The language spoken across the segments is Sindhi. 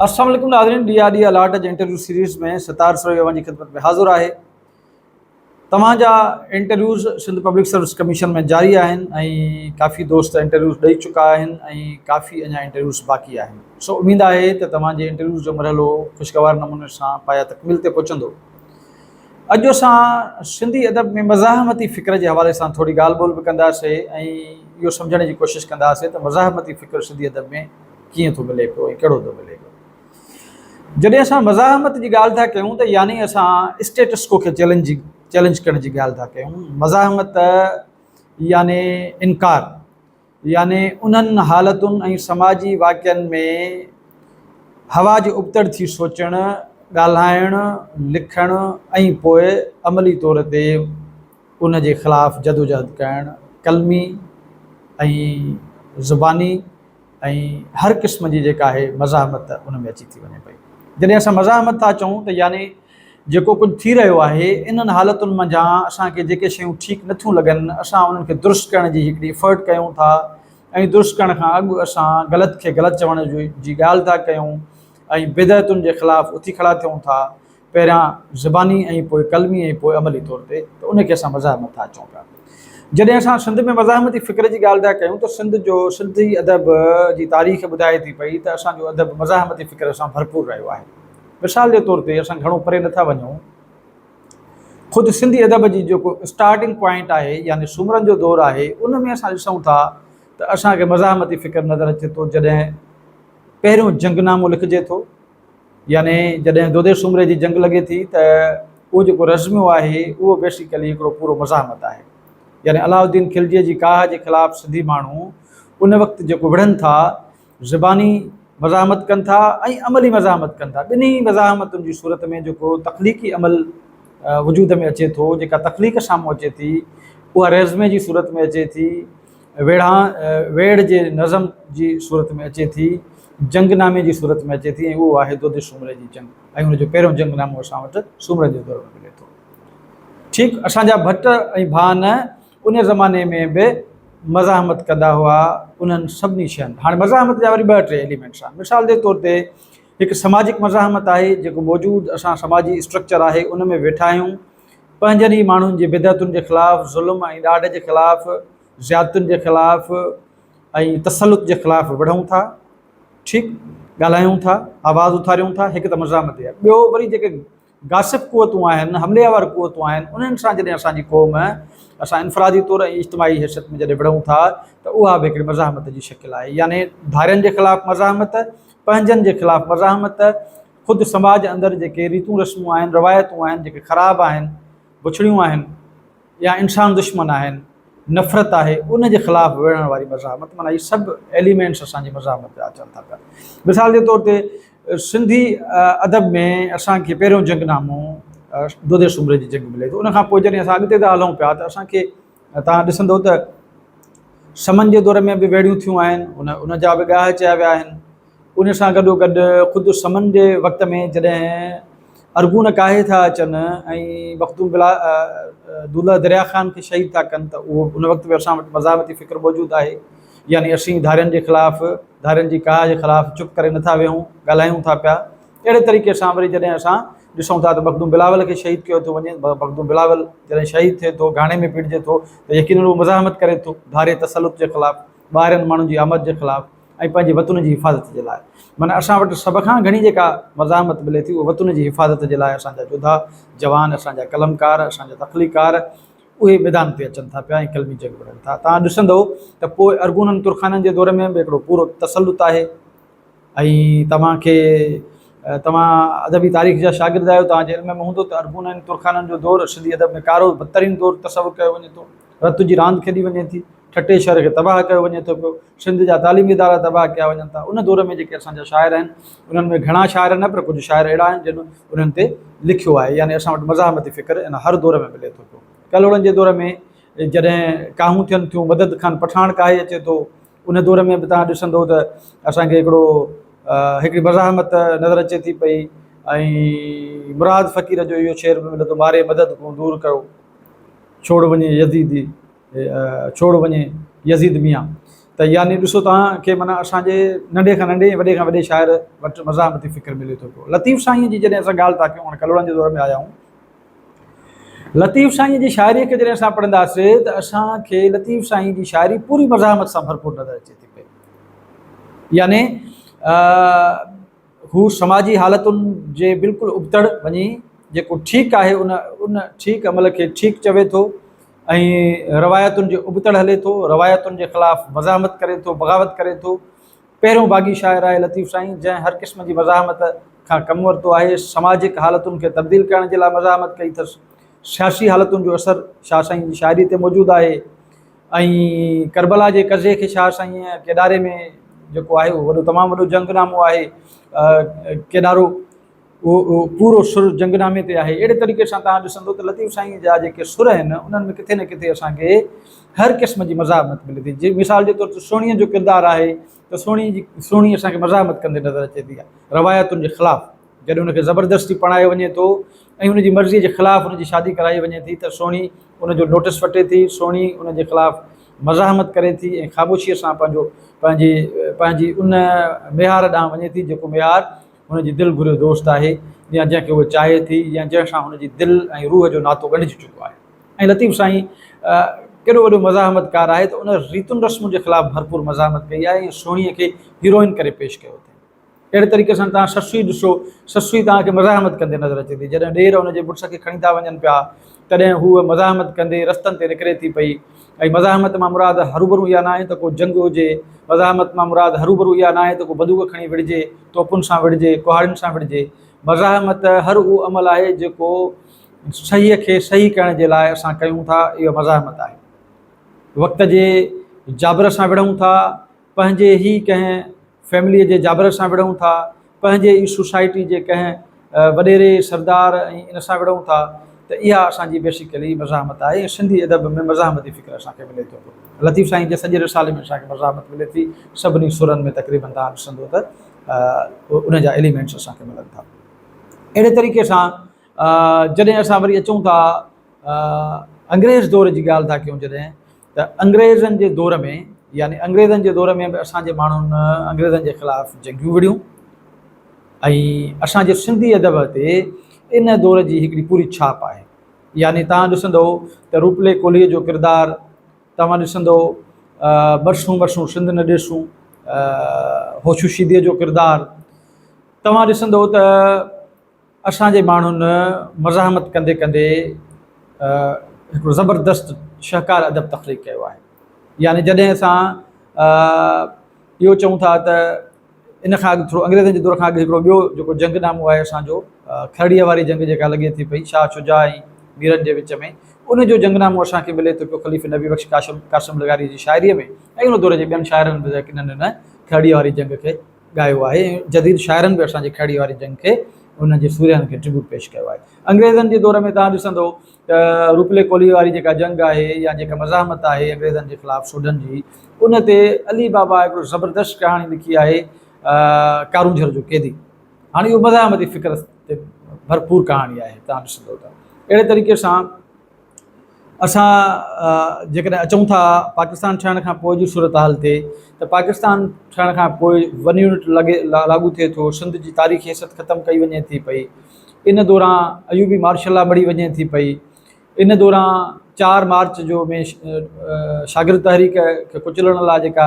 السلام عليڪم ناظرين ڏي آڏي الاٽ جي انٽرويو سيريز ۾ ستار سروهي اوهان جي خدمت ۾ حاضر آهي توهان جا interviews Sindh public service commission ۾ جاري آهن ۽ ڪافي دوست انٽرويوز ڏئي چڪا آهن ۽ ڪافي اڃا انٽرويوز باقي آهن سو اميد آهي ته توهان جي انٽرويوز جو مرحلو خوشگوار نموني سان پايا تڪميل تي پهچندو اڄ اسان سنڌي ادب ۾ مزاحمتي فڪر جي حوالي سان ٿوري ڳالهه ٻولهه به ڪنداسين ۽ اهو سمجهڻ جي ڪوشش ڪنداسين ته مزاحمتي فڪر سنڌي ادب ۾ ڪيئن ٿو ملي پيو ۽ ڪهڙو ٿو ملي پيو. جڏهن اسان مزاحمت جي ڳالهه ٿا ڪيون ته يعني اسان اسٽيٽس ڪو کي چئلينج چئلينج ڪرڻ جي ڳالهه ٿا ڪيون. مزاحمت يعني انڪار. يعني انهن حالتن ۽ سماجي واقعن ۾ هوا جي ابتڙ ٿي سوچڻ، ڳالهائڻ، لکڻ ۽ پوء عملي طور تي ان جي خلاف جدوجهد ڪرڻ، قلمي ۽ زباني ۽ هر قسم جي جيڪا آهي مزاحمت ان ۾ اچي ٿي وڃي پئي. جڏهن اسان مزاحمت ٿا چئون ته يعني جيڪو ڪجهه ٿي رهيو آهي، انهن حالتن منجهان اسان کي جيڪي شيون ٺيڪ نٿيون لڳن، اسان انهن کي درست ڪرڻ جي هڪڙي افرٽ ڪيون ٿا ۽ درست ڪرڻ کان اڳ اسان غلط کي غلط چوڻ جي ڳالهه ٿا ڪيون ۽ بدعتن جي خلاف اٿي کڙا ٿيون ٿا، پهريان زباني ۽ پوء قلمي ۽ پوء عملي طور تي ته ان کي اسان مزاحمت ٿا اچون پيا. جڏهن اسان سنڌ ۾ مزاحمتي فڪر جي ڳالهه ٿا ڪيون ته سنڌ جو سنڌي ادب جي تاريخ ٻڌائي ٿي پئي ته اسان جو ادب مزاحمتي فڪر سان ڀرپور رهيو آهي. مثال جي طور تي اسان گهڻو پري نٿا وڃون، خود سنڌي ادب جي جيڪو اسٽارٽنگ پوائنٽ آهي يعني سومرن جو دور آهي ان ۾ اسان ڏسون ٿا ته اسان کي مزاحمتي فڪر نظر اچي ٿو جڏهن پهريون جنگ نامو لکجي ٿو يعني جڏهن دودي سومري جي جنگ لڳي ٿي ته اهو جيڪو رزميو آهي اهو بيسيڪلي هڪڙو پورو مزاحمت آهي يعني علاؤ الدين خلجيء جي ڪاهه جي خلاف سنڌي ماڻهو ان وقت جيڪو وڙهن ٿا زباني مزاحمت ڪن ٿا ۽ عملي مزاحمت ڪن ٿا. ٻنهي مزاحمتن جي صورت ۾ جيڪو تخليقي عمل وجود ۾ اچي ٿو، جيڪا تخليق سامهون اچي ٿي، اها ريزمي جي صورت ۾ اچي ٿي، ويڙهان، ويڙهه جي نظم جي صورت ۾ اچي ٿي، جنگ نامي جي صورت ۾ اچي ٿي ۽ اهو آهي دودي سومري جي جنگ ۽ ان جو پهريون جنگ نامو اسان وٽ سومرن جي دور ۾ ملي ٿو. ٺيڪ اسان جا ڀٽ ۽ ڀان. ان زماني ۾ به مزاحمت ڪندا هئا انهن سڀني شين هاڻي مزاحمت جا وري ٻه ٽي ايليمينٽس آهن مثال جي طور تي هڪ سماجڪ مزاحمت آهي جيڪو موجود اسان سماجي اسٽرڪچر آهي ان ۾ ويٺا آهيون پنهنجن ئي ماڻهن جي بدعتن جي خلاف ظلم ۽ ڏاڍ جي خلاف زيادتن جي خلاف ۽ تسلط جي خلاف وڙهون ٿا ٺيڪ ڳالهايون ٿا آواز اٿاريون ٿا هڪ ته مزاحمت ٻيو وري جيڪي غاصب قوتون آهن، حملي آور قوتون آهن، انهن سان جڏهن اسان جي قوم، اسان انفرادي طور ۽ اجتماعي حيثيت ۾ جڏهن وڙهون ٿا ته اها به هڪڙي مزاحمت جي شڪل آهي، يعني ڌارين جي خلاف مزاحمت، پنهنجن جي خلاف مزاحمت، خود سماج اندر جيڪي ريتون رسمون آهن، روايتون آهن، جيڪي خراب آهن، بڇڙيون آهن. يا انسان دشمن آهن، نفرت آهي، ان جي خلاف وڙهڻ واري مزاحمت معنيٰ هي سڀ ايليمينٽس اسان جي مزاحمت جا اچن ٿا پيا. مثال جي طور تي سنڌي ادب ۾ اسان کي پهريون جنگ نامو دودي سومري جي جنگ ملي ٿو. ان کان پوء جڏهن اسان اڳتي ٿا هلون پيا ته اسان کي توهان ڏسندو ته سمن جي دور ۾ به ويڙهيون ٿيون آهن، ان ان جا به ڳاهه چيا ويا آهن. ان سان گڏوگڏ خود سمن جي وقت ۾ جڏهن ارغون ڪاهي ٿا اچن ۽ بختون بلا دولهه دريا خان کي شهيد ٿا ڪن ته اهو ان وقت به اسان وٽ مزاحمتي فڪر موجود آهي يعني اسين ڌارين جي خلاف ڌارين جي ڪاهه جي خلاف چپ ڪري نه ٿا ويهون ڳالهايون ٿا پيا اهڙي طريقي سان وري جڏهن اسان ڏسون ٿا ته مخدوم بلاول کي شهيد ڪيو ٿو وڃي مخدوم بلاول جڏهن شهيد ٿئي ٿو گهاڻي ۾ پيڙجي ٿو ته يقينن هو مزاحمت ڪري ٿو ڌاري تسلط جي خلاف ٻاهرين ماڻهن جي آمد جي خلاف ۽ پنهنجي وطن جي حفاظت جي لاء معنيٰ اسان وٽ سڀ کان گهڻي جيڪا مزاحمت ملي ٿي اهو وطن جي حفاظت جي لاء اسان جا جوڌا جوان اسان جا قلمڪار اسان جا تخليقڪار اهي ميدان تي اچن ٿا پيا ۽ قلمي جنگ وڙهن ٿا توهان ڏسندو ته پوء ارغونن ترخانن جي دور ۾ به هڪڙو پورو تسلط آهي ۽ توهان کي توهان ادبي تاريخ جا شاگرد آهيو توهان جي علم ۾ هوندو ته ارغونن ۽ ترخانن جو دور سنڌي ادب ۾ ڪارو بدترين دور تصور ڪيو وڃي ٿو رت جي راند کيڏي وڃي ٿي ٺٽي شهر کي تباهه ڪيو وڃي ٿو پيو، سنڌ جا تعليمي ادارا تباهه ڪيا وڃن ٿا، ان دور ۾ جيڪي اسان جا شاعر آهن، انهن ۾ گهڻا شاعر نه پر ڪجهه شاعر اهڙا آهن جن انهن تي لکيو آهي، يعني اسان وٽ مزاحمتي فڪر ان هر دور ۾ ملي ٿو پيو. ڪلهوڙن جي دور ۾ جڏهن ڪاهون ٿين ٿيون، مدد خان پٺاڻ ڪاهي اچي ٿو، ان دور ۾ به توهان ڏسندو ته اسان کي هڪڙو هڪڙي مزاحمت نظر اچي ٿي پئي ۽ مراد فقير جو اهو شعر به ملي ٿو، ماري مدد ڪون دور ڪيو، ڇوڙ وڃي يزيدي. ڇوڙ وڃي يزيد ميان ته يعني ڏسو توهان کي معنيٰ اسان جي ننڍي کان ننڍي وڏي کان وڏي شاعر وٽ مزاحمتي فڪر ملي ٿو پيو لطيف سائينء جي جڏهن اسان ڳالهه ٿا ڪيون هاڻي ڪلهوڙن جي دور ۾ آيا آهيون لطيف سائينء جي شاعريء کي جڏهن اسان پڙهنداسي ته اسان کي لطيف سائينء جي شاعري پوري مزاحمت سان ڀرپور نظر اچي ٿي پئي يعني هو سماجي حالتن جي بلڪل ابتڙ وڃي جيڪو ٺيڪ آهي ان ان ٺيڪ عمل کي ٺيڪ چوي ٿو ۽ روايتن جي ابتڙ هلي ٿو، روايتن جي خلاف مزاحمت ڪري ٿو، بغاوت ڪري ٿو. پهريون باغي شاعر آهي لطيف سائين جنهن هر قسم جي مزاحمت کان ڪم ورتو آهي. سماجڪ حالتن کي تبديل ڪرڻ جي لاء مزاحمت ڪئي اٿس. سياسي حالتن جو اثر شاهه سائين جي شاعري تي موجود آهي. ۽ ڪربلا جي قضيي کي شاهه سائينء ڪيڏاري ۾ جيڪو آهي اهو وڏو تمام وڏو جنگ نامو آهي ڪيڏارو اهو پورو سر جنگ نامي تي آهي اهڙي طريقي سان تهان ڏسندو ته لطيف سائينء جا جيڪي سر آهن انهن ۾ ڪٿي نه ڪٿي اسان کي هر قسم جي مزاحمت ملي ٿي جي مثال جي طور تي سهڻيء جو ڪردار آهي ته سهڻي جي سهڻي اسان کي مزاحمت ڪندي نظر اچي ٿي روايتن جي خلاف جڏهن هن کي زبردستي پرڻايو وڃي ٿو ۽ هن جي مرضيء جي خلاف هن جي شادي ڪرائي وڃي ٿي ته سهڻي ان جو نوٽس وٺي ٿي، سهڻي ان جي خلاف مزاحمت ڪري ٿي ۽ خاموشيء سان پنهنجو پنهنجي پنهنجي ان ميهار ڏانهن وڃي ٿي جيڪو ميهار هن جي دل گهريو دوست آهي يا جنهن کي هوء چاهي ٿي يا جنهن سان هن جي دل ۽ روح جو ناتو ڳنڍجي چڪو آهي ۽ لطيف سائين ڪيڏو وڏو مزاحمتڪار آهي ته ان ريتن رسمن جي خلاف ڀرپور مزاحمت ڪئي آهي ۽ سهڻيء کي هيروئن ڪري پيش ڪيو اٿئي. اهڙي طريقي سان توهان سسئي ڏسو، سسئي توهان کي مزاحمت ڪندي نظر اچي ٿي. جڏهن ڏير ان جي مڙس کي کڻي ٿا وڃن پيا، تڏهن هوء مزاحمت ڪندي رستن تي نڪري ٿي پئي ۽ مزاحمت مان مراد هروڀرو اها ناهي ته ڪو جنگ هجي، مزاحمت مان مراد هروڀرو اها ناهي ته ڪو بندوق کڻي وڙهجي، توپن سان وڙهجي، ڪهاڙين سان وڙهجي. مزاحمت هر اهو عمل آهي جيڪو صحيح کي صحيح ڪرڻ جي لاء اسان ڪيون ٿا، اهو مزاحمت آهي. وقت جي جابر سان وڙهون ٿا، پنهنجي ئي ڪنهن فيمليء جي جابر سان وڙهون ٿا، پنهنجي ئي سوسائٽي جي ڪنهن وڏيري، سردار ۽ ان سان وڙهون ٿا ته اها اسان جي بيسيڪلي مزاحمت آهي ۽ سنڌي ادب ۾ مزاحمتي فڪر اسان کي ملي ٿو پيو. لطيف سائين جي سڄي رسالي ۾ اسان کي مزاحمت ملي ٿي، سڀني سرن ۾ تقريباً توهان ڏسندو ته ان جا ايليمينٽس اسان کي ملن ٿا. اهڙي طريقي سان جڏهن اسان وري اچون ٿا انگريز دور جي ڳالهه ٿا ڪيون جڏهن ته انگريزن جي دور ۾ يعني انگريزن جي دور ۾ به اسان جي ماڻهن انگريزن جي خلاف جنگيون وڙهيون ۽ اسان جي سنڌي ادب تي ان دور جي هڪڙي پوري ڇاپ آهي يعني تان ڏسندو ته روپلي ڪولهي جو ڪردار تان ڏسندو برسون برسون سنڌ نه ڏسون هوشو شيدي جو ڪردار تان ڏسندو ته اسان جي ماڻهن مزاحمت ڪندي ڪندي هڪڙو زبردست شهڪار ادب تخليق ڪيو آهي يعني جڏهن اسان اهو چئون ٿا ته ان کان اڳ ٿورو انگريزن جي دور کان اڳ هڪڙو ٻيو جيڪو جنگ نامو آهي اسان جو کرڙيء واري جنگ جيڪا لڳي ٿي پئي شاهه شجاع ۽ ميرن جي وچ ۾ ان جو جنگ نامو اسان کي ملي ٿو پيو خليفي نبي بخش قاسم قاسم لغاري جي شاعريء ۾ ۽ ان دور جي ٻين شاعرن به ڪنھن هن کرڙيء واري جنگ کي ڳايو آهي ۽ جديد شاعرن به اسان جي کهڙي واري جنگ کي انهن جي سورهين کي ٽربيوٽ پيش ڪيو آهي. انگريزن جي دور ۾ توهان ڏسندو ته روپلي ڪولهي واري جيڪا جنگ آهي يا جيڪا مزاحمت آهي انگريزن جي خلاف سوڍن جي ان تي علي بابا هڪڙو زبردست ڪهاڻي لکي آهي ڪارونجهر جو قيدي هاڻي اهو مزاحمتي فڪر تي ڀرپور ڪهاڻي آهي توهان ڏسندو ته اهڙي طريقي سان اسان جيڪڏهن اچون ٿا پاڪستان ٺهڻ کان پوء جي صورتحال تي ته پاڪستان ٺهڻ کان پوء ون يونٽ لڳي لاڳو ٿئي ٿو، سنڌ جي تاريخي حيثيت ختم ڪئي وڃي ٿي پئي، ان دوران ايوبي مارشل لا مڙهي وڃي ٿي پئي، ان دوران چار مارچ جو ۾ شاگرد تحريڪ کي ڪچلڻ لاء جيڪا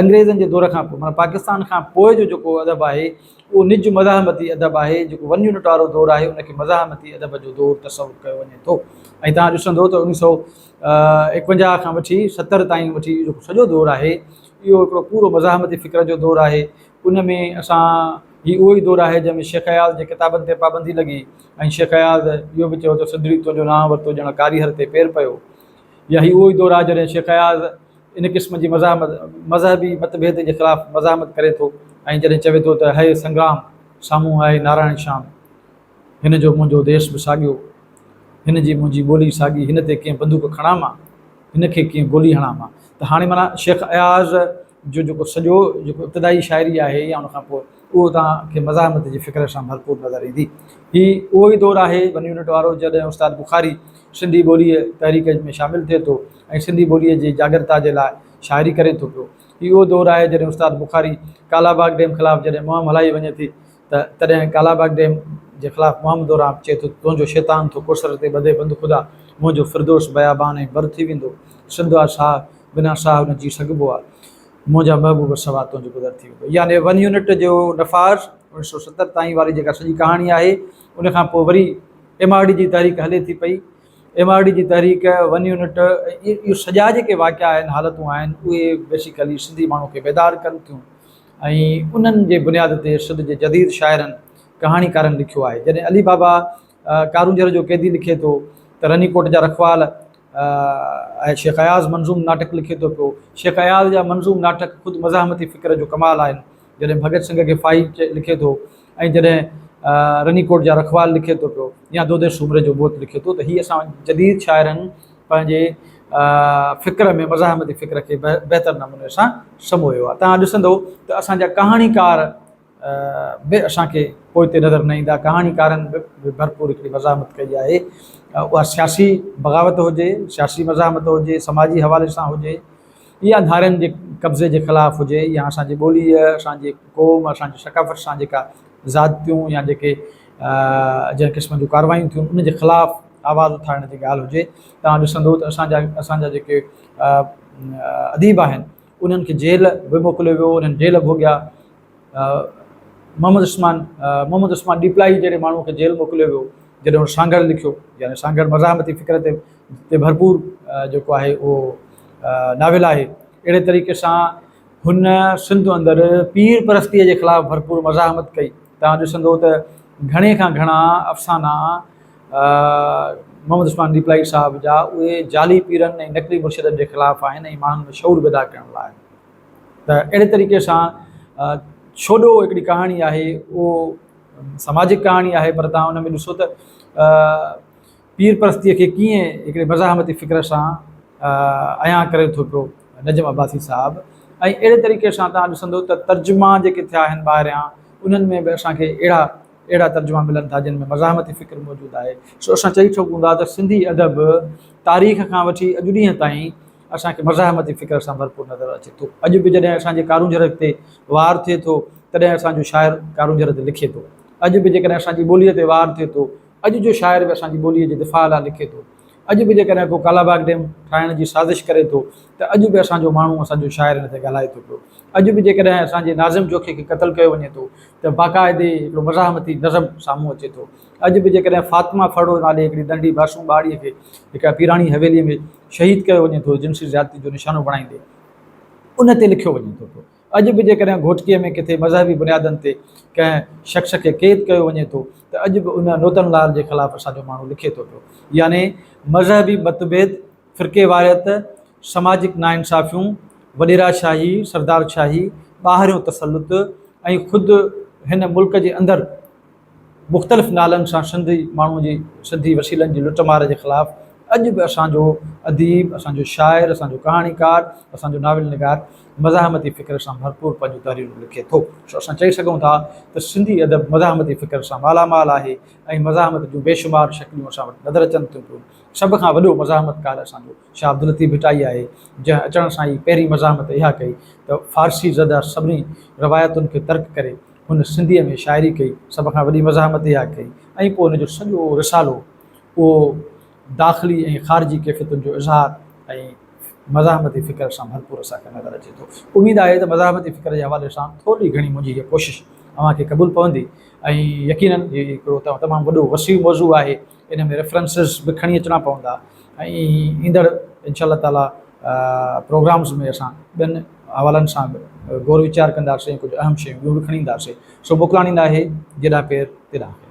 انگريزن جي دور کان پوء معنيٰ پاڪستان کان پوء جو جيڪو ادب آهي اهو نج مزاحمتي ادب آهي جيڪو ون يونٽ وارو دور آهي ان کي مزاحمتي ادب جو دور تصور ڪيو وڃي ٿو ۽ تان ڏسندو ته اڻيهه سؤ ايڪونجاهه کان وٺي ستر تائين وٺي جيڪو سڄو دور آهي اهو هڪڙو پورو مزاحمتي فڪر جو دور آهي ان ۾ اسان هي اهو ئي دور آهي جنهن ۾ شيخ اياز جي ڪتابن تي پابندي لڳي ۽ شيخ اياز اهو به چيو ته سڌڙي تنهنجو نانء ورتو ڄڻ ڪاريهر تي پير پيو يا هي اهو ئي دور آهي جڏهن شيخ اياز ان قسم جي مزاحمت مذهبي متڀيد جي خلاف مزاحمت ڪري ٿو ۽ جڏهن چوي ٿو ته هيء سنگرام سامهون آهي نارائڻ شام هن جو منهنجو ديس به ساڳيو هن جي منهنجي ٻولي ساڳي هن تي ڪيئن بندوق کڻان مان هن کي ڪيئن گولي هڻان مان ته هاڻي معنيٰ شيخ اياز جو جيڪو سڄو جيڪو ابتدائي شاعري آهي يا ان کان پوء اهو توهان کي مزاحمت جي فڪر سان ڀرپور نظر ايندي هي اهو ئي دور آهي ون يونٽ وارو جڏهن استاد بخاري سنڌي ٻوليء تحريڪ ۾ شامل ٿئي ٿو ۽ سنڌي ٻوليء جي جاڳرتا جي لاء شاعري ڪري ٿو پيو. هي اهو دور آهي جڏهن استاد بخاري ڪالاباغ ڊيم خلاف جڏهن مهم هلائي وڃي ٿي ته تڏهن ڪالاباغ ڊيم جي خلاف مهم دوران چئي ٿو تنهنجو شيطان ٿو ڪوثر تي ٻڌي بند خدا منهنجو فردوس بيابان ۽ بر ٿي ويندو سنڌ آ ساهه بنا ساهه نه جي سگهبو آ منهنجا محبوب سوا تنهنجو گذر ٿي ويندو يعني ون يونٽ جو نفاذ اوڻيهه سؤ ستر تائين واري جيڪا سڄي ڪهاڻي آهي ان کان پوء وري ايم آر ڊي جي تحريڪ هلي ٿي پئي ايم آر ڊي جي تحريڪ، ون يونٽ اهي سڄا جيڪي واقعا آهن حالتون آهن اهي بيسيڪلي سنڌي ماڻهو کي بيدار ڪن ٿيون ۽ انهن جي بنياد تي سنڌ جي جديد شاعرن ڪهاڻيڪارن لکيو آهي جڏهن علي بابا ڪارونجهر جو قيدي لکي ٿو ته رني ڪوٽ جا رکوال ۽ شيخ اياز منظوم ناٽڪ لکي ٿو پيو شيخ اياز جا منظوم ناٽڪ خود مزاحمتي فڪر جو ڪمال آهن جڏهن ڀڳت سنگهه کي فائي لکي ٿو ۽ جڏهن رني ڪوٽ جا رکوال لکي ٿو پيو يا دودي سومري جو موت لکي ٿو ته هي اسان جديد شاعرن پنهنجي فڪر ۾ مزاحمتي فڪر کي بهتر نموني سان سمويو آهي. توهان ڏسندو ته اسان جا ڪهاڻيڪار به اسان کي پوئتي نظر نه ايندا. ڪهاڻيڪارن به ڀرپور هڪڙي مزاحمت ڪئي آهي. اها سياسي بغاوت هجي، سياسي مزاحمت هجي، سماجي حوالي سان هجي، اها ڌارين جي قبضي جي خلاف هجي يا اسان جي ٻوليء، اسان جي قوم، اسان جي ثقافت سان جيڪا زيادتيون يا جيڪي جنهن قسم جون ڪارروايون ٿيون ان جي خلاف آواز اٿارڻ جي ڳالهه هجي. توهان ڏسندو ته اسان جا اسان جا جيڪي اديب آهن انهن کي جيل به موڪليو ويو، انهن جيل ڀوڳيا. محمد عثمان محمد عثمان ڏيپلائي جهڙي ماڻهوء کي جيل موڪليو ويو، جڏهن هن سانگهڙ لکيو، يعني سانگهڙ مزاحمتي فڪر تي تي ڀرپور جيڪو آهي اهو ناول آهي. اهڙي طريقي سان هن سنڌ اندر پير پرستيء جي خلاف ڀرپور مزاحمت ڪئي. توهان ڏسندو ته گهڻي کان گهڻا افسانا محمد عثمان ڏيپلائي صاحب جا اهي جعلي پيرن ۽ نقلي مرشدن جي خلاف آهن ۽ ماڻهن ۾ شعور پيدا ڪرڻ لاء آهن. ته اهڙي طريقي سان ڇوڏو هڪڙي ڪهاڻي آهي اهو سماجڪ ڪهاڻي آهي پر تهان ان ۾ ڏسو ته پير پرستيء کي ڪيئن هڪڙي مزاحمتي فڪر سان عيان ڪري ٿو پيو نجم عباسي صاحب ۽ اهڙي طريقي سان تهان ڏسندو ته ترجما جيڪي ٿيا آهن ٻاهريان انهن ۾ به اسان کي اهڙا اهڙا ترجما ملن ٿا جن ۾ مزاحمتي فڪر موجود آهي سو اسان چئي سگهون ٿا ته سنڌي ادب تاريخ کان وٺي اڄ ڏينهن تائين اسان کي مزاحمتي فڪر سان ڀرپور نظر اچي ٿو. اڄ به جڏهن اسان جي ڪارونجهر تي وار ٿئي ٿو، تڏهن اسان جو شاعر ڪارونجهر تي لکي ٿو. اڄ به جيڪڏهن اسان جي ٻوليء تي وار ٿئي ٿو، اڄ جو شاعر به اسان جي ٻوليء جي دفاع لاء لکي ٿو. اڄ به جيڪڏهن ڪو ڪالاباغ ڊيم ٺاهڻ جي سازش ڪري ٿو، ته اڄ به اسان جو ماڻهو، اسان جو شاعر ان تي ڳالهائي ٿو پيو. اڄ به جيڪڏهن اسان جي ناظم جوکي کي قتل ڪيو وڃي ٿو، ته باقاعدي هڪڙو مزاحمتي نظم سامهون اچي ٿو. اڄ به جيڪڏهن فاطمه ڦرڙو نالي هڪڙي ننڍي معصوم ٻارڙيء کي هڪ پيراڻي حويليء ۾، شهيد ڪيو وڃي ٿو، جنسي زيادتي جو نشانو بڻائيندي ان تي لکيو وڃي ٿو پيو. اڄ به جيڪڏهن گهوٽڪيء ۾ ڪٿي مذهبي بنيادن تي ڪنهن شخص کي قيد ڪيو وڃي ٿو ته اڄ به ان نوتن لال جي خلاف اسان جو ماڻهو لکي ٿو پيو. يعني مذهبي متڀيد، فرقيواريت، سماجڪ ناانصافيون، وڏيرا شاهي، سردار شاهي، ٻاهريون تسلط ۽ خود هن ملڪ جي اندر مختلف نالن سان سنڌي ماڻهو جي سنڌي وسيلن جي لٽ مار جي خلاف اڄ به اسان جو اديب، اسان جو شاعر، اسان جو ڪهاڻيڪار، اسان جو ناول نگار مزاحمتي فڪر سان ڀرپور پنهنجون تحريرون لکي ٿو. سو اسان چئي سگهون ٿا ته سنڌي ادب مزاحمتي فڪر سان مالا مال آهي ۽ مزاحمت جون بيشمار شڪليون اسان وٽ نظر اچن ٿيون پيون. سڀ کان وڏو مزاحمتڪار اسان جو شاهه عبداللطيف ڀٽائي آهي، جنهن اچڻ سان ئي پهرين مزاحمت اها ڪئي ته فارسي زده سڀني روايتن کي ترڪ ڪري هن سنڌيء ۾ شاعري ڪئي، سڀ کان وڏي مزاحمت اها ڪئي ۽ پوء هن جو سڄو رسالو اهو داخلي ۽ خارجي ڪيفيتن جو اظهار ۽ مزاحمتي فڪر سان ڀرپور اسان کي نظر اچي ٿو. اميد آهي ته مزاحمتي فڪر جي حوالي سان ٿورڙي گهڻي منهنجي هيء ڪوشش اوهان کي قبول پوندي ۽ يقينن هي هڪڙو تمام وڏو وسيع موضوع آهي، ان ۾ ريفرنسز به کڻي اچڻا پوندا ۽ ايندڙ انشاء الله تعاليٰ پروگرامز ۾ اسان ٻين حوالن سان به غور ويچار ڪنداسين ۽ ڪجهه اهم شيون ٻيون به کڻي اينداسين سو موڪلاڻي ناهي جيڏانهن پير تيڏانهن خير.